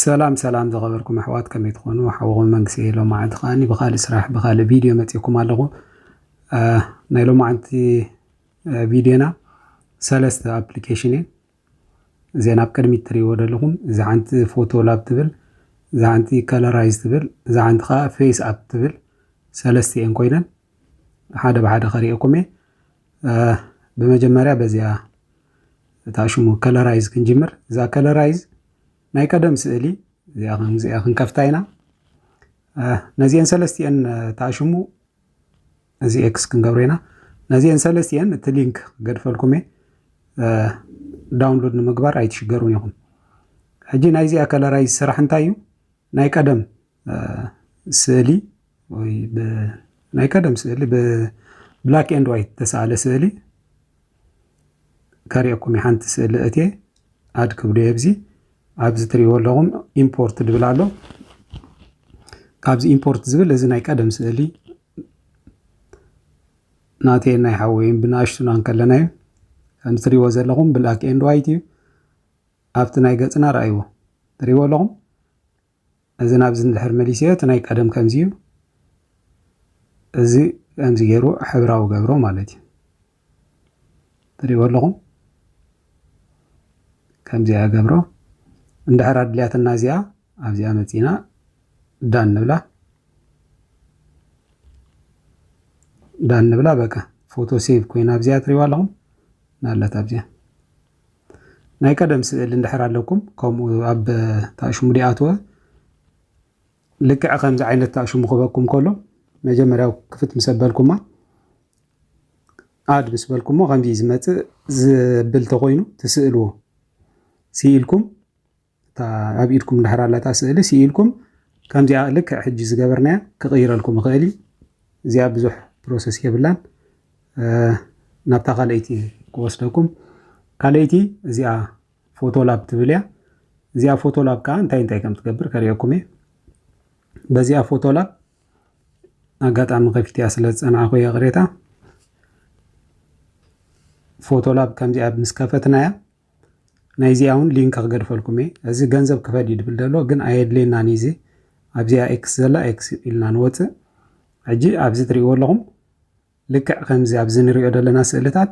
ሰላም ሰላም ዝኸበርኩም ኣሕዋት ከመይ ትኾኑ ሓወኹም መንግስቲ እየ ሎማዓንቲ ከዓኒ ብካልእ ስራሕ ብካልእ ቪድዮ መፅእኩም ኣለኹ ናይ ሎማዓንቲ ቪድዮና ሰለስተ ኣፕሊኬሽን እየን እዘን ኣብ ቅድሚት ትሪእዎ ደለኹም እዛ ሓንቲ ፎቶ ላብ ትብል እዛ ሓንቲ ከለራይዝ ትብል እዛ ሓንቲ ከዓ ፌስ ኣፕ ትብል ሰለስተ እየን ኮይነን ሓደ ብሓደ ከሪኤኩም እየ ብመጀመርያ በዚኣ እታ ሽሙ ከለራይዝ ክንጅምር እዛ ከለራይዝ ናይ ቀደም ስእሊ እዚኣ ከምዚኣ ክንከፍታ ኢና ነዚአን ሰለስቲአን እታ ሽሙ እዚ ኤክስ ክንገብሮ ኢና ነዚኤን ሰለስቲኤን እቲ ሊንክ ገድፈልኩም እየ ዳውንሎድ ንምግባር ኣይትሽገሩን ኢኹም ሕጂ ናይዚኣ ከለራይ ስራሕ እንታይ እዩ ናይ ቀደም ስእሊ ወይ ናይ ቀደም ስእሊ ብብላክ ኤንድ ዋይት ተሰኣለ ስእሊ ከሪኦኩም እዩ ሓንቲ ስእሊ እትየ ኣድ ክብሉ እየ ብዚ ኣብዚ ትሪእዎ ኣለኹም ኢምፖርት ድብል ኣሎ ካብዚ ኢምፖርት ዝብል እዚ ናይ ቀደም ስእሊ ናተይ ናይ ሓወይን ብንኣሽቱና እንከለና እዩ ከምዚ ትሪእዎ ዘለኹም ብላክ ኤንድ ዋይት እዩ ኣብቲ ናይ ገፅና ረኣይዎ ትሪእዎ ኣለኹም እዚ ናብዚ ንድሕር መሊስዮ እቲ ናይ ቀደም ከምዚ እዩ እዚ ከምዚ ገይሩ ሕብራዊ ገብሮ ማለት እዩ ትሪእዎ ኣለኹም ከምዚኣ ገብሮ እንድሕር ኣድልያትና እዚኣ ኣብዚኣ መፂና ዳን ንብላ ዳን ንብላ በቃ ፎቶ ሴቭ ኮይና ኣብዚኣ ትሪእዋ ኣለኹም ናለት ኣብዚኣ ናይ ቀደም ስእሊ እንድሕር ኣለኩም ከምኡ ኣብ ታሽሙ ዲኣትወ ልክዕ ከምዚ ዓይነት ከኣ ሽሙ ክበኩም ከሎ መጀመርያ ክፍት ምስ ኣበልኩማ ኣድ ምስ በልኩሞ ከምዚ ዝመጽእ ዝብል ተኮይኑ ትስእልዎ ስኢልኩም እታ ኣብ ኢድኩም ድሕር ኣላታ ስእሊ ስኢልኩም ከምዚኣ ልክዕ ሕጂ ዝገበርናያ ክቕይረልኩም ይኽእል እዩ እዚኣ ብዙሕ ፕሮሰስ የብላን ናብታ ካልኣይቲ ክወስደኩም ካልኣይቲ እዚኣ ፎቶ ላብ ትብል እያ እዚኣ ፎቶ ላብ ከዓ እንታይ እንታይ ከም ትገብር ከሪኦኩም እየ በዚኣ ፎቶ ላብ ኣጋጣሚ ከፊትያ ስለ ዝፀናዕኹ እየ ቅሬታ ፎቶ ላብ ከምዚኣ ምስ ከፈትናያ ናይዚኣ እውን ሊንክ ክገድፈልኩም እየ እዚ ገንዘብ ክፈድ እዩ ድብል ደሎ ግን ኣየድልየናን እዩ እዚ ኣብዚኣ ኤክስ ዘላ ኤክስ ኢልና ንወፅእ ሕጂ ኣብዚ ትሪእዎ ኣለኹም ልክዕ ከምዚ ኣብዚ ንሪኦ ደለና ስእልታት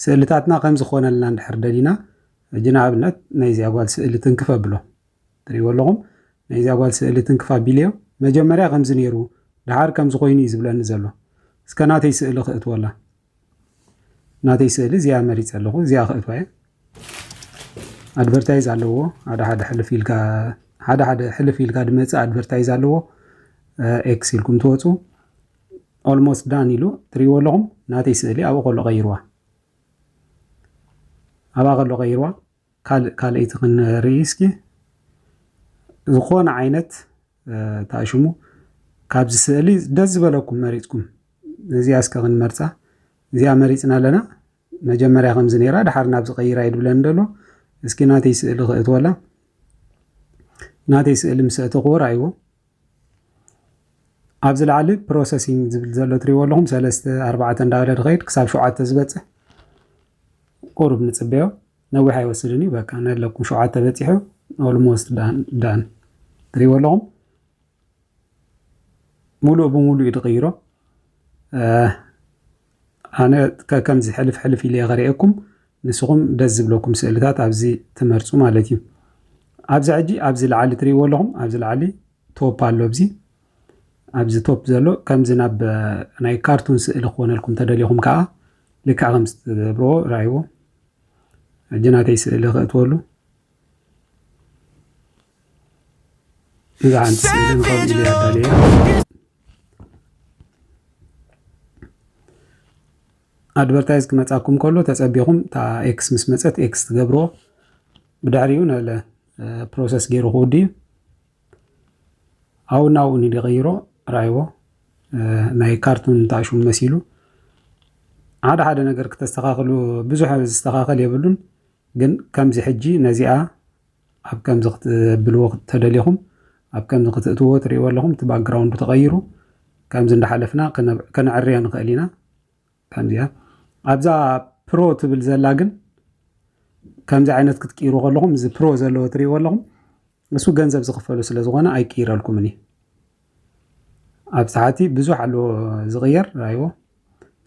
ስእልታትና ከምዚ ክኾነልና እንድሕር ደሊና ሕጂ ንኣብነት ናይዚኣ ጓል ስእሊ ትንክፍ ኣብሎ ትሪእዎ ኣለኹም ናይዚኣ ጓል ስእሊ ትንክፍ ኣቢልዮ መጀመርያ ከምዚ ነይሩ ደሓር ከምዚ ኮይኑ እዩ ዝብለኒ ዘሎ እስከ ናተይ ስእሊ ክእትወላ ናተይ ስእሊ እዚኣ መሪፀ ኣለኹ እዚኣ ክእትዋ እየ ኣድቨርታይዝ ኣለዎ ሓደ ሓደ ሕልፍ ኢልካ ሓደ ሓደ ሕልፍ ኢልካ ድመፅእ ኣድቨርታይዝ ኣለዎ ኤክስ ኢልኩም ትወፁ Almost done ኢሉ ትሪእዎ ኣለኹም ናተይ ስእሊ ኣብኡ ከሎ ቀይርዋ ኣብኣ ከሎ ቀይርዋ ካልእ ካልኣይቲ ክንርኢ እስኪ ዝኾነ ዓይነት ታሽሙ ካብዚ ስእሊ ደስ ዝበለኩም መሪፅኩም እዚኣ እስከ ክንመርፃ እዚኣ መሪፅና ኣለና መጀመርያ ከምዚ ነይራ ድሓር ናብዚ ቀይራ እዩ ድብለኒ ደሎ እስኪ ናተይ ስእሊ ክእትወላ ናተይ ስእሊ ምስ እተኽዎ ራእይዎ ኣብዚ ላዕሊ ፕሮሰሲንግ ዝብል ዘሎ ትሪእዎ ኣለኹም ሰለስተ ኣርባዕተ እንዳበለ ድኸይድ ክሳብ ሸውዓተ ዝበፅሕ ቁሩብ ንፅበዮ ነዊሕ ኣይወስድን እዩ በቃ ነለኩም ሸውዓተ በፂሑ ኦልሞስት ዳን ትሪእዎ ኣለኹም ሙሉእ ብሙሉእ እዩ ዝቕይሮ። ኣነ ከምዚ ሕልፍ ሕልፍ ኢለ ከርእየኩም ንስኹም ደስ ዝብለኩም ስእልታት ኣብዚ ትመርፁ ማለት እዩ። ኣብዚ ሕጂ ኣብዚ ላዓሊ ትሪእዎ ኣለኹም ኣብዚ ላዓሊ ቶፕ ኣሎ ኣብዚ ኣብዚ ቶፕ ዘሎ ከምዚ ናብ ናይ ካርቱን ስእሊ ክኾነልኩም ተደሊኹም ከዓ ልክዕ ከምዚ ትገብርዎ ርኣይዎ ሕጂ ናተይ ስእሊ ከእትወሉ እዛ ሓንቲ ስእሊ ንኸምኡ ኢለ ኣዳለየ ኣድቨርታይዝ ክመፃኩም ከሎ ተፀቢኹም እታ ኤክስ ምስ መፀት ኤክስ ትገብርዎ ብድሕሪኡ ነለ ፕሮሰስ ገይሩ ክውድ እዩ ኣብኡ ናብኡ ንዲ ቀይሮ ራይዎ ናይ ካርቱን ታሹም መሲሉ ሓደ ሓደ ነገር ክተስተኻኽሉ ብዙሕ ዝተኻኸል የብሉን ግን ከምዚ ሕጂ ነዚኣ ኣብ ከምዚ ክትብልዎ ተደሊኹም ኣብ ከምዚ ክትእትዎ ትርእይዎ ኣለኹም እቲ ባክግራውንዱ ተቐይሩ ከምዚ እንዳሓለፍና ከነዕርያ ንኽእል ኢና ከምዚኣ ኣብዛ ፕሮ ትብል ዘላ ግን ከምዚ ዓይነት ክትቅይሩ ከለኹም እዚ ፕሮ ዘለዎ ትሪእዎ ኣለኹም ንሱ ገንዘብ ዝኽፈሉ ስለ ዝኾነ ኣይቅይረልኩምን እዩ ኣብ ታሕቲ ብዙሕ ኣሎ ዝቕየር ራይዎ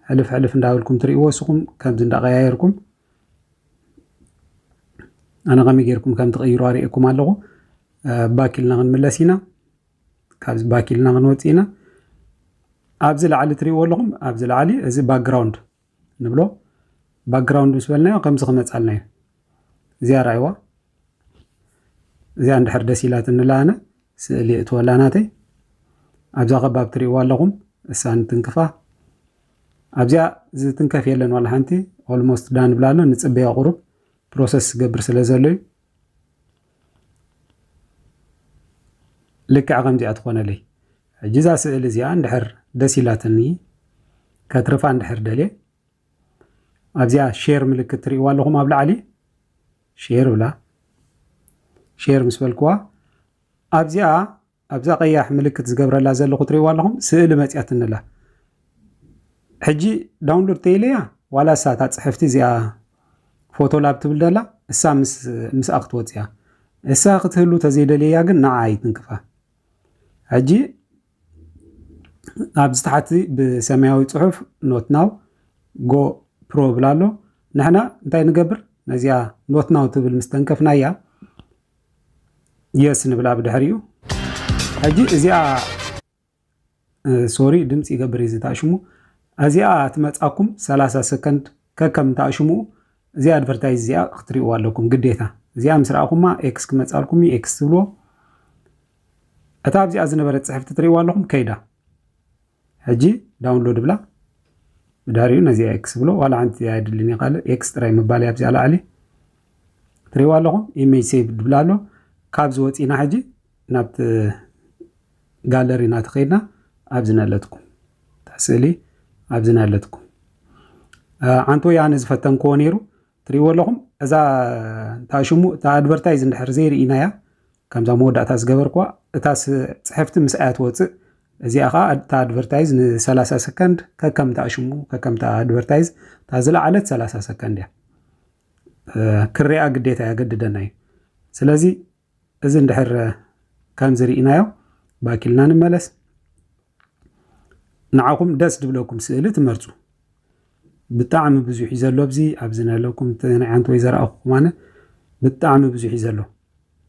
ሕልፍ ሕልፍ እንዳበልኩም ትሪእዎ እስኹም ከምዚ እንዳቀያየርኩም ኣነ ከመይ ጌርኩም ከም ትቕይሩ ኣርእየኩም ኣለኹ ባክ ኢልና ክንምለስ ኢና ካብዚ ባክ ኢልና ክንወፅ ኢና ኣብዚ ላዕሊ ትሪእዎ ኣለኹም ኣብዚ ላዕሊ እዚ ባክግራውንድ ንብሎ ባክግራውንድ ምስ በልናዮ ከምዚ ክመፃልና እዩ እዚኣ ርኣይዋ እዚኣ እንድሕር ደስ ኢላት እንላኣነ ስእሊ እትወላ ናተይ ኣብዛ ከባብ ትሪእዋ ኣለኹም እሳ ንትንክፋ ኣብዚኣ ዝትንከፍ የለን ዋላ ሓንቲ ኦልሞስት ዳን ብላ ኣሎ ንጽበያ ቁሩብ ፕሮሰስ ዝገብር ስለ ዘሎ እዩ ልክዕ ከምዚኣ ትኾነለይ ሕጂ እዛ ስእሊ እዚኣ እንድሕር ደስ ኢላትኒ ከትርፋ እንድሕር ደልየ ኣብዚኣ ሼር ምልክት ትርእይዋ ኣለኹም ኣብ ላዕሊ ሼር ብላ ሼር ምስ በልክዋ ኣብዚኣ ኣብዛ ቀያሕ ምልክት ዝገብረላ ዘለኹ ትሪእዋ ኣለኹም ስእሊ መጽያትኒ ኣላ ሕጂ ዳውንሎድ ተይለያ ዋላ እሳ እታ ጽሕፍቲ እዚኣ ፎቶ ላብ ትብል ደላ እሳ ምስኣ ክትወጽያ እሳ ክትህሉ ተዘይደልያ ግን ንዓ ኣይትንክፋ ሕጂ ኣብዚ ታሕቲ ብሰማያዊ ጽሑፍ ኖት ናው ጎ ፕሮ ብላ ኣሎ ንሕና እንታይ ንገብር ነዚኣ ኖት ናው ትብል ምስተንከፍናያ የስ ንብላ ብድሕሪኡ ሕጂ እዚኣ ሶሪ ድምፂ ይገብር እዩ ዝታሽሙ እዚኣ ትመፃኩም 30 ሰከንድ ከከም ታሽሙ እዚ ኣድቨርታይዝ እዚኣ ክትሪእዋ ኣለኩም ግዴታ እዚኣ ምስ ረኣኹማ ኤክስ ክመፃልኩም እዩ ኤክስ ትብልዎ እታ ኣብዚኣ ዝነበረት ፅሕፍቲ ትሪእዋ ኣለኹም ከይዳ ሕጂ ዳውንሎድ እብላ መድሃሪኡ ነዚኣ ኤክስ ብሎ ዋላ ሓንቲ እዚኣ የድልኒ ካልእ ኤክስ ጥራይ ምባል እያ ኣብዚኣ ላዕሊ ትሪእዋ ኣለኹም ኢሜጅ ሴቭ ድብላ ኣሎ ካብዚ ወፂና ሕጂ ናብቲ ጋለሪ ናቲ ከይድና ኣብዚ ነለትኩም ስእሊ ኣብዚ ነለትኩም ሓንቲ ወይ ኣነ ዝፈተንክዎ ነይሩ ትሪእዎ ኣለኹም እዛ እንታይ ሽሙ እታ ኣድቨርታይዝ እንድሕር ዘይርኢናያ ከምዛ መወዳእታ ዝገበርክዋ እታ ፅሕፍቲ ምስ ኣያ ትወፅእ እዚኣ ከዓ እታ ኣድቨርታይዝ ን30 ሰከንድ ከከምታ ሽሙ ከከምታ ኣድቨርታይዝ እታ ዝለዓለት 30 ሰከንድ እያ ክሪኣ ግዴታ የገድደና እዩ ስለዚ እዚ እንድሕር ከምዚ ሪኢናዮ ባክ ኢልና ንመለስ። ንዓኹም ደስ ድብለኩም ስእሊ ትመርጹ ብጣዕሚ ብዙሕ እዩ ዘሎ ኣብዚ ኣብዚ ነለኩም ናይ ሓንቲ ወይ ዘረኣኹኩም ኣነ ብጣዕሚ ብዙሕ እዩ ዘሎ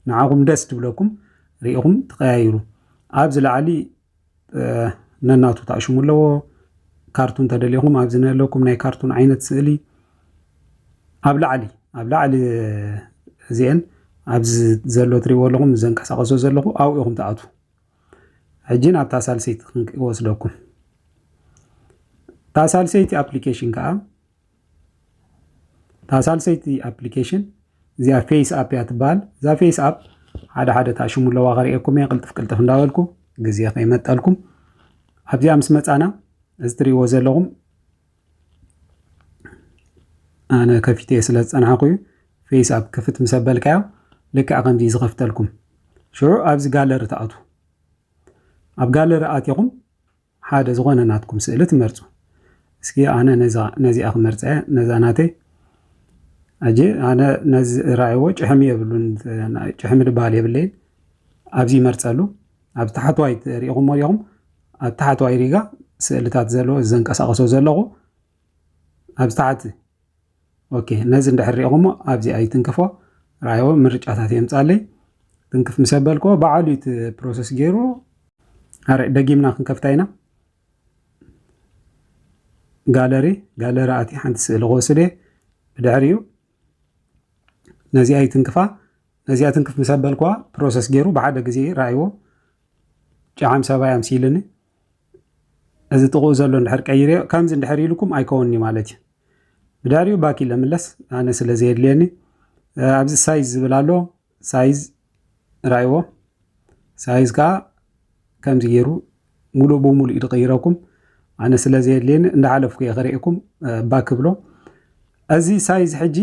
ንዓኹም ደስ ድብለኩም ሪኢኹም ትቀያይሩ ኣብዚ ላዕሊ ነናቱ ተኣሽሙ ኣለዎ ካርቱን ተደሊኹም ኣብዚ ነለኩም ናይ ካርቱን ዓይነት ስእሊ ኣብ ላዕሊ ኣብ ላዕሊ እዚአን ኣብዚ ዘሎ ትሪእዎ ኣለኹም ዘንቀሳቀሶ ዘለኹ ኣብኡ ኢኹም ትኣትዉ ሕጂ ናብታ ሳልሰይቲ ክንወስደኩም እታ ሳልሰይቲ ኣፕሊኬሽን ከዓ እታ ሳልሰይቲ ኣፕሊኬሽን እዚኣ ፌስ ኣፕ እያ ትበሃል እዛ ፌስ ኣፕ ሓደ ሓደ እታ ሽሙ ኣለዋ ከርእየኩም እየ ቅልጥፍ ቅልጥፍ እንዳበልኩ ግዜ ከይመጠልኩም ኣብዚኣ ምስ መፃና እዚ ትሪእዎ ዘለኹም ኣነ ከፊተ ስለ ዝፀናሕኩ እዩ ፌስ ኣፕ ክፍት ምስ ኣበልካዮ ልክዕ ከምዚ ዝኸፍተልኩም ሽዑ ኣብዚ ጋለሪ ትኣትዉ ኣብ ጋለሪ ኣትኹም ሓደ ዝኾነ ናትኩም ስእሊ ትመርጹ። እስኪ ኣነ ነዛ ነዚኣ ክመርጻ እየ ነዛ ናተይ ኣጀ ኣነ ነዚ ራእይዎ ጭሕሚ የብሉን ጭሕሚ ድበሃል የብለይን ኣብዚ ይመርጸሉ ኣብ ታሕተዋይ ሪኢኹሞ ዲኹም ኣብ ታሕተዋይ ሪጋ ስእልታት ዘለዎ ዘንቀሳቀሶ ዘለኹ ኣብ ታሕቲ ኦኬ ነዚ እንድሕር ሪኢኹሞ ኣብዚ ኣይትንክፎ ራዮ ምርጫታት የምፃለይ ትንክፍ ምስ ኣበልክዎ በዓሉ እቲ ፕሮሰስ ገይሩ ኣረ ደጊምና ክንከፍታ ኢና ጋለሪ ጋለሪ ኣቲ ሓንቲ ስእሊ ክወስድ እየ ብድሕሪኡ ነዚኣ ይትንክፋ ነዚኣ ትንክፍ ምስ ኣበልክዋ ፕሮሰስ ገይሩ ብሓደ ግዜ ራእይዎ ጨዓም ሰባይ ኣምሲልኒ እዚ ጥቕኡ ዘሎ እንድሕር ቀይርዮ ከምዚ እንድሕር ኢልኩም ኣይከውንዩ ማለት እዩ ብዳሪኡ ባክ ኢለ ምለስ ኣነ ስለ ዘየድልየኒ ኣብዚ ሳይዝ ዝብል ኣሎ ሳይዝ ራይዎ ሳይዝ ከዓ ከምዚ ገይሩ ሙሉእ ብሙሉእ እዩ ዝቕይረኩም ኣነ ስለ ዘየድልየኒ እንዳሓለፍኩ እየ ክርእኩም ባክ ብሎ እዚ ሳይዝ ሕጂ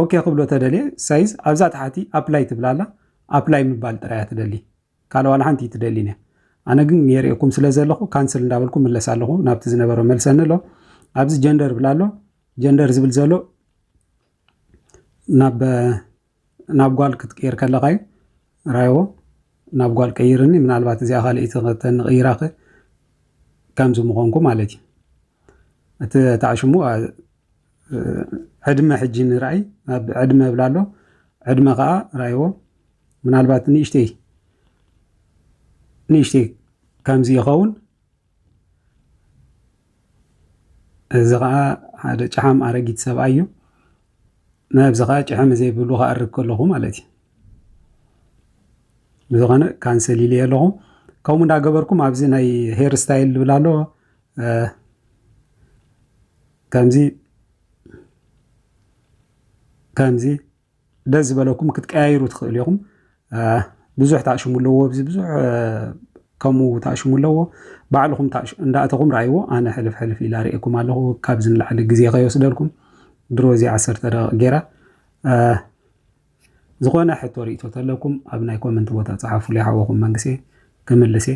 ኦኬ ክብሎ ተደልየ ሳይዝ ኣብዛ ታሓቲ ኣፕላይ ትብል ኣላ ኣፕላይ ምባል ጥራይ እያ ትደሊ ካልእ ዋላ ሓንቲ እይትደሊን እያ ኣነ ግን የርእየኩም ስለ ዘለኹ ካንስል እንዳበልኩ ምለስ ኣለኹ ናብቲ ዝነበሮ መልሰኒ ኣሎ ኣብዚ ጀንደር ብል ኣሎ ጀንደር ዝብል ዘሎ ናብ ናብ ጓል ክትቅይር ከለካ እዩ ራይዎ ናብ ጓል ቀይርኒ ምናልባት እዚኣ ካልእቲ ከተንቕይራኸ ከምዚ ምኾንኩ ማለት እዩ እቲ ታዕሽሙ ዕድመ ሕጂ ንርኣይ ኣብ ዕድመ ብላ ኣሎ ዕድመ ከዓ ራይዎ ምናልባት ንእሽተይ ንእሽተይ ከምዚ ይኸውን እዚ ከዓ ሓደ ጭሓም ኣረጊት ሰብኣይ እዩ ናብዚ ከዓ ጭሕሚ ዘይብሉ ክኣርግ ከለኹ ማለት እዩ ብዝኾነ ካንሰል ኢለ ኣለኹ ከምኡ እንዳገበርኩም ኣብዚ ናይ ሄር ስታይል ዝብል ኣሎ ከምዚ ከምዚ ደስ ዝበለኩም ክትቀያይሩ ትኽእሉ ኢኹም። ብዙሕ ታሽሙ ኣለዎ ኣብዚ ብዙሕ ከምኡ ታሽሙ ኣለዎ ባዕልኹም እንዳእተኹም ረኣይዎ። ኣነ ሕልፍ ሕልፍ ኢላ ርእየኩም ኣለኹ ካብዚ ንላዕሊ ግዜ ከይወስደልኩም ድሮ እዚ ዓሰርተ ደቂቕ ጌራ ዝኾነ ሕቶ ርእቶ ተለኩም ኣብ ናይ ኮመንት ቦታ ፀሓፉለይ ሓወኹም መንግስቴ ክምልስ እየ።